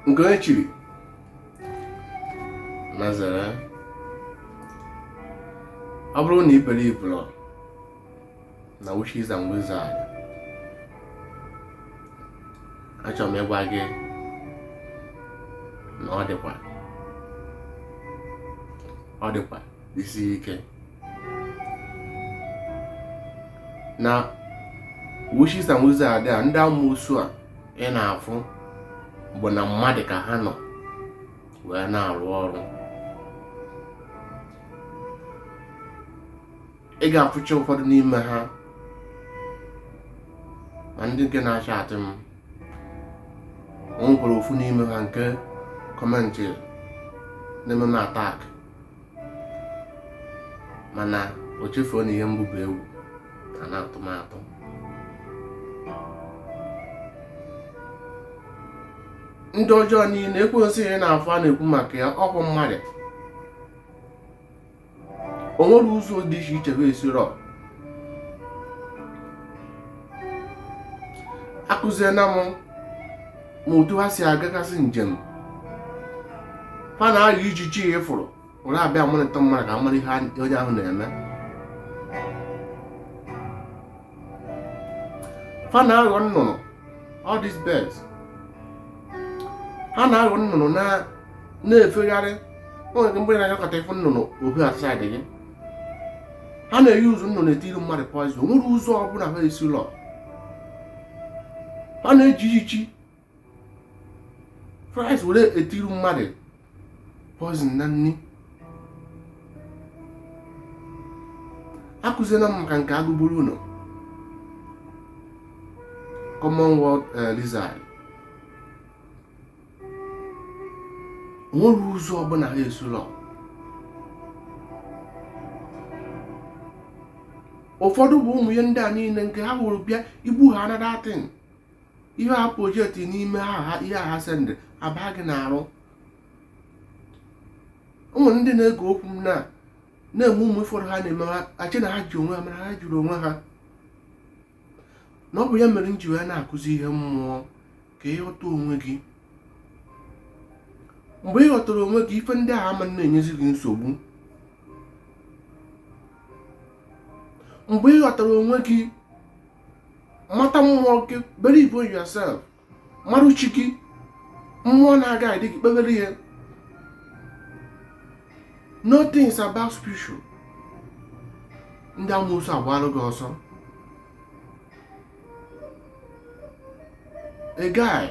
nke onye chiri ya zere ọ bụrụ na ị believụrọ na witches and wizards achọrọ m ịgwa gị na ọ dịkwa ọ dịkwa isi ike na witches and wizards are there ndị amoosu a ị na-afụ bụ na mmadụ ka ha nọ wee na-arụ ọrụ ị ga-afụcha ụfọdụ n'ime ha ma ndị nke na-achatị m o nwekwara ofu n'ime ha nke kọmentị na-eme m atak mana o chefuo na ihe mbụ bụ egwu a na-atụ m atụ ndị ọjọọ niile ekwensu ị na-afụ a na-ekwu maka ya ọ bụ mmadụ o nwere ụzọ dị iche iche ha esiro akụziena m ma otu ha si agagasị njem ha na-aghọ ijiji a ị fụrụ were abịa amonitor mmadụ ka ha mara ihe onye ahụ na-eme fa na-aghọ nnụnụ all these birds ha na-aghọ nnụnụ na-efegharị o nwere mgbe ị na-anyakọta ị fụ nnụnụ ohu asaịdị gị ha na-eyuuzu nnụnụ etiri mmadụ poizin o nwerọ ụzọ ọbụla ha esirọ fa na-eji ijiji flies were etiri mmadụ poison na nri akụziela m maka nke agụgburu ụlọ common wall eh, lizard o nweghị ụzọ ọbụla ha esirọ ụfọdụ bụ ụmụ ihe ndị a niile nke ha hụrụ bịa igbu ha na that thing ihe ha projekti n'ime ha ihe ha sendị aba gị n'arụ ụmụ ndị na-ege okwu m na-amụ amụ ụfọdụ ha na-eme ha echee na ha ji onwe ha mana ha ejirọ onwe ha na ọ bụ ya mere m ji wee na-akụzi ihe mmụọ ka ị ghọta onwe gị mgbe ị ghọtara onwe gị ife ndị ahụ ama na-enyezi gị nsogbu mgbe ị ghọtara onwe gị mata mmụọ gị believe in yourself marụ chi gị mmụọ na-aguide gị kpebere ihe know things about spiritual ndị amoosu agbalụ gị ọsọ a guy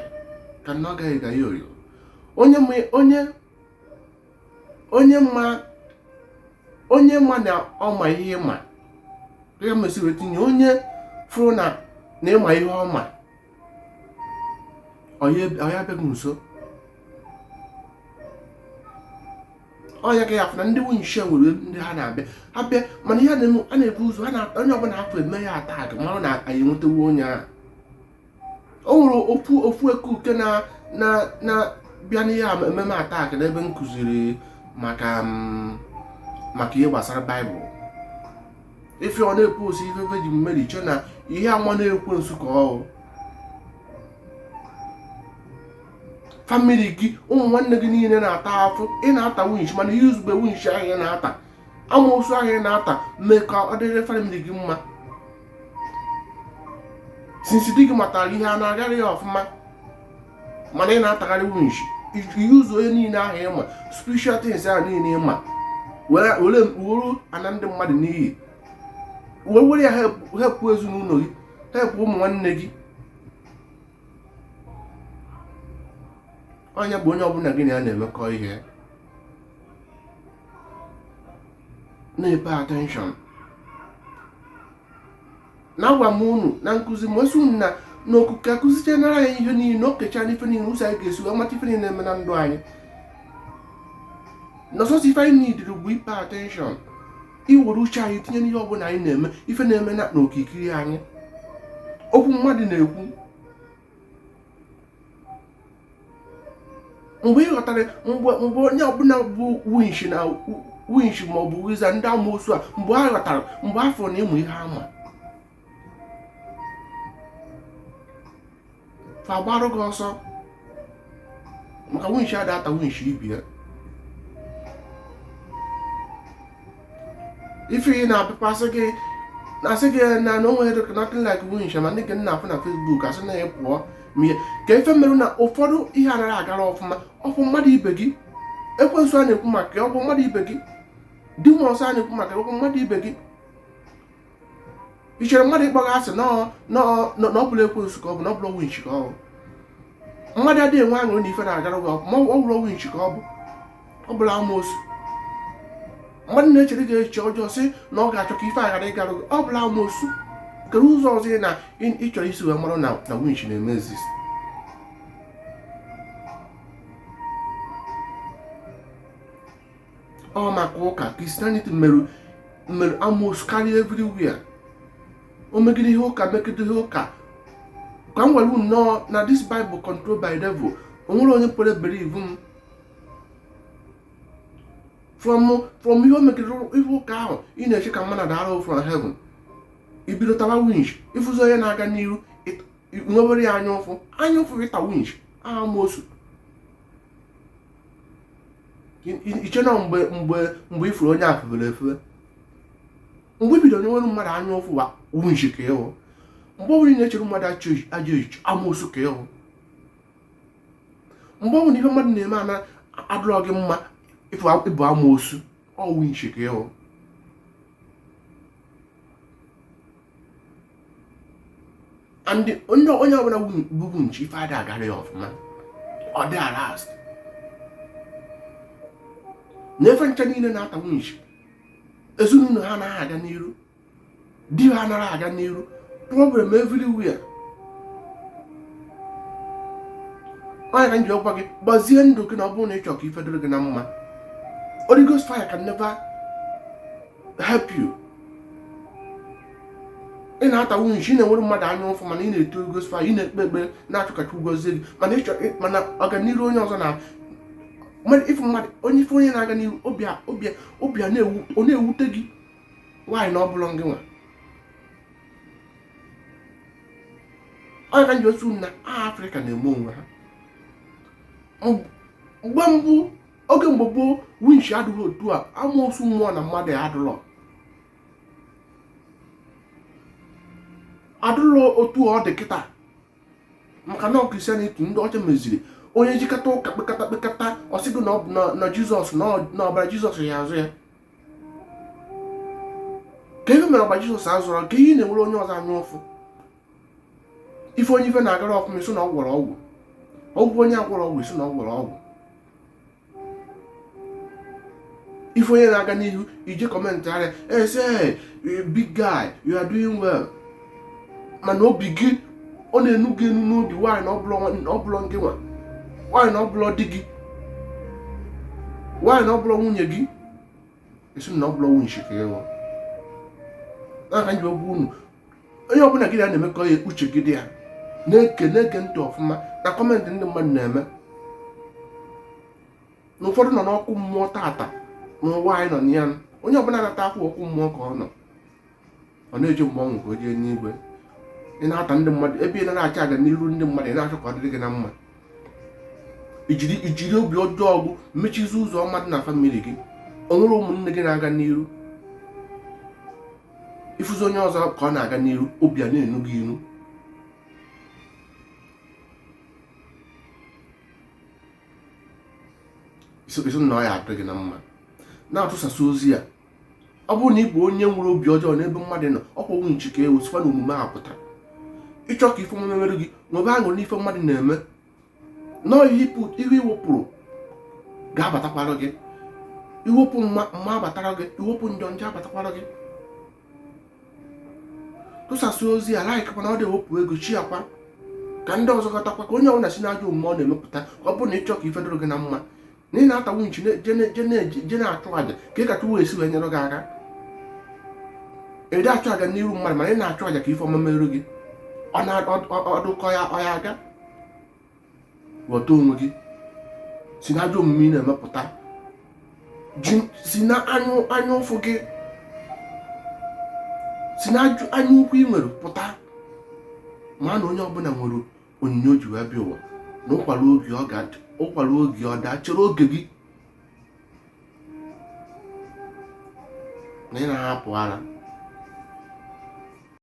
cannot guy a guyoyo onye onye onye ma onye ma na ọ ma ihe ma ya mesịrị tinye onye fụrụ na na ị ma ihe ọ ma ọ ya abịa gị nso ọ ya ka ị ya afụ na ndị winch nwere ndị ha na-abịa ha bịa mana ihe a na-ebu ụzọ onye ọbụla ha fụ eme ya attack mara na anyị enwetawo onye ahụ o nwere ofu ofu ekuke na na na bịa na-eme m attack n'ebe m kụziri maka mm, maka ihe gbasara baịbụl ife ọ na-epost ife Virgin Mary chọ na ihe ama na ekwensu ka ọ family gị ụmụ nwanne gị niile na-ata afụ ị na-ata winch mana ị useghị winch ahụ ị na-ata amoosu ahụ ị na-ata mee ka ọ dịrị family gị mma since di gị matara ihe a na-agara ya ọfụma mana ị na-atagharị winch use ihe niile ahụ ị ma spiritual things ahụ niile ị ma were were ana ndị mmadụ n'iyi wee were ya help ezinụlọ gị help ụmụ nwanne gị onye bụ onye ọbụla gị na ya na-emekọ ihe na-epay attention na agwa m unu na nkụzi m esi unu na n'okike akụzichenara anyị ihe niile o kecha n'ife niile ụzọ anyị ga-esi wee mata ife niile na-eme na ndụ anyị na ọ sọọsọ ife anyị needịrị bụ ipay attention iwere uche anyị tinye n'ihe ọbụla anyị na-eme ife na-eme na n'okirikiri anyị okwu mmadụ na-ekwu mgbe ị ghọtara mgbe mgbe onye ọbụla bụ winch na winch ma ọ bụ wizard ndị amoosu a mgbe ha ghọtara mgbe ha fụ na ị ma ihe ha ma fa agbarụ gị ọsọ maka winch ada ata winch ibe ya ife ị na-apịpasị gị na-asị gị na na onweghị dịka nothing like winch ma ndị nke ị na-afụ na Facebook asị na ya pụọ ma ihe ka ife merụ na ụfọdụ ihe anaghị agara ọfụma ọ bụ mmadụ ibe gị ekwensu a na-ekwu maka ya ọ bụ mmadụ ibe gị demons a na-ekwu maka ya ọ bụ mmadụ ibe gị i chere mmadụ ịkpọ gị asị na ọbụla ekwensu ka ọ bụ na ọbụla winchi ka ọ bụ mmadụ adịghị enwe aṅụrị na ife na-agara gị ọfụma ọ bụla winchi ka ọ bụ ọ bụla amoosu mmadụ na-echere gị echiche ọjọọ sị na ọ ga-achọ ka ife aghara ịgara gị ọ bụla amoosu kedụ ụzọ ọzọ ị na ị chọrọ isi wee mara na winchi na-eme exist ọ maka ụka christianity mere amoosu karịa everywhere o megide ihe ụka megide ihe ụka ka m were nnọọ na this bible control by devil o nwere onye kwere believe m from from ihe o megide ihe ụka ahụ ị na-eche ka mmadụ dara from heaven ibido tawa winch ịfụzi onye na-aga n'iru nwewere ya anya ụfụ anya ụfụ ịta winch amoosu iche na mgbe mgbe mgbe ị fụrụ onye febere efe mgbe ibido inwere mmadụ anya ụfụ wa winch ka ị bụ mgbe ọbụla ị na-echere mmadụ ajọ echiche amoosu ka ị bụ mgbe ọbụla ihe mmadụ na-eme ana adịrọ gị mma ị bụ amoosu ọ winch ka ị bụ and onye onye ọbụla bụ winch ife ada agara ya ọfụma ọ dị arast na-efe ncha niile na-ata winch ezinụlọ ha anaghị aga n'iru di ha anaghị aga n'iru problem everywhere ọ ya ka m ji agwa gị gbazie ndụ gị na ọ bụrụ na ị chọrọ ka ife dịrị gị na mma Holy Ghost fire can never help you ị na-ata winch ị na-enwere mmadụ anya ụfụ mana ị na-eti Holy Ghost fire ị na-ekpe ekpere na-achọ ka Chukwu gọzie gị mana ị chọ mana ọganihu onye ọzọ na ife mmadụ onye ife onye na-aga n'ihu obi a na-ewute gị why na ọ bụla ngị nwa ọ ya ka m ji sị na afrịka na-eme onwe ha mgbe mbụ oge mgbe gboo winch adịghị otu a amoosu mmụọ na mmadụ adụlọ adụlọ otu ọ dị kịta maka na christianity ndị ọcha meziri onye jekata ụka kpekata kpekata ọ sị gị na jizọs na ọbara jizọs ya azụ ya kee ihe mere ọbara jizọs azụrụ ka ihe na-enwere onye ọzọ anya ụfụ ife onye ife na-agara ọfụma ị sị na ọ gwọrọ ọgwụ ọgwụ onye agwọrọ ọgwụ ị sị na ọ gwọrọ ọgwụ ife onye na-aga n'ihu ị jee comment area sị big guy you are doing well mana obi gị ọ na-enu gị inu n'obi why na ọ bụlọ gị nwa why na ọ bụlọ di gị why na ọ bụlọ nwunye gị ị sị na ọ bụlọ winch ka ị wụ n'aka nji ogwu unu onye ọbụla gị na-emekọ ya uche gị dị ya na-ege ntị ọfụma na kọmentị ndị mmadụ na-eme na ụfọdụ nọ n'ọkụ mmụọ tata n'ụwa anyị nọ na ya onye ọbụla na-ata akwụ ọkụ mmụọ ka ọ nọ ọ na-eji mgbe ọ nwụ ka o jee enuigwe ị na-ata ndị mmadụ ebe ị na-anọchi ọganiru ndị mmadụ ị na-achọ ka ọ dịrị gị na mma i jiri obi ọjọọ ọgwụ mechizi ụzọ ọma dị na famili gị o nwere ụmụnne gị na-aga n'iru ị fụzi onye ọzọ ka ọ na-aga n'iru obi a na-enu gị inu ị sị na ọ ya adịrị gị na mma na-atụsasị ozi a ọ bụrụ na ị bụ onye nwere obi ọjọọ n'ebe mmadụ nọ ọkwa winch ka ị wụ sikwa na omume a pụta ị chọọ ka ife ọma mere gị nwebe aṅụrị n'ife mmadụ na-eme nọọ ihe i wepụrụ ga-abatakwara gị i wepụ mma mma abatara gị i wepụ njọ njọ abatakwara gị tụsasị ozi a laik mana ọ dị ewepụ ego shiakwa ka ndị ọzọ ghọtakwa ka onye ọbụla si n'ajọ omume ọ na-eme pụta ọ bụrụ na ị chọ ka ife dịrị gị na mma na ị na-ata winch je na-achụ aja ka ka chukwu si wee nyere gị aka ị dị achọ ọganiru mmadụ mana ị na-achụ aja ka ife ọma merụ gị ọ dụ ka ọ ya aga ghọta onwe gị si na ajọ omume ị na-eme pụta si na anya ụfụ gị si na anya ukwu ị nwere pụta ma na onye ọbụla nwere onyinye o ji wee bịa ụwa na ụkwa ruo oge ọ ga-ada ụkwa ruo oge ọ daa chere oge gị na ị na-ahapụ ara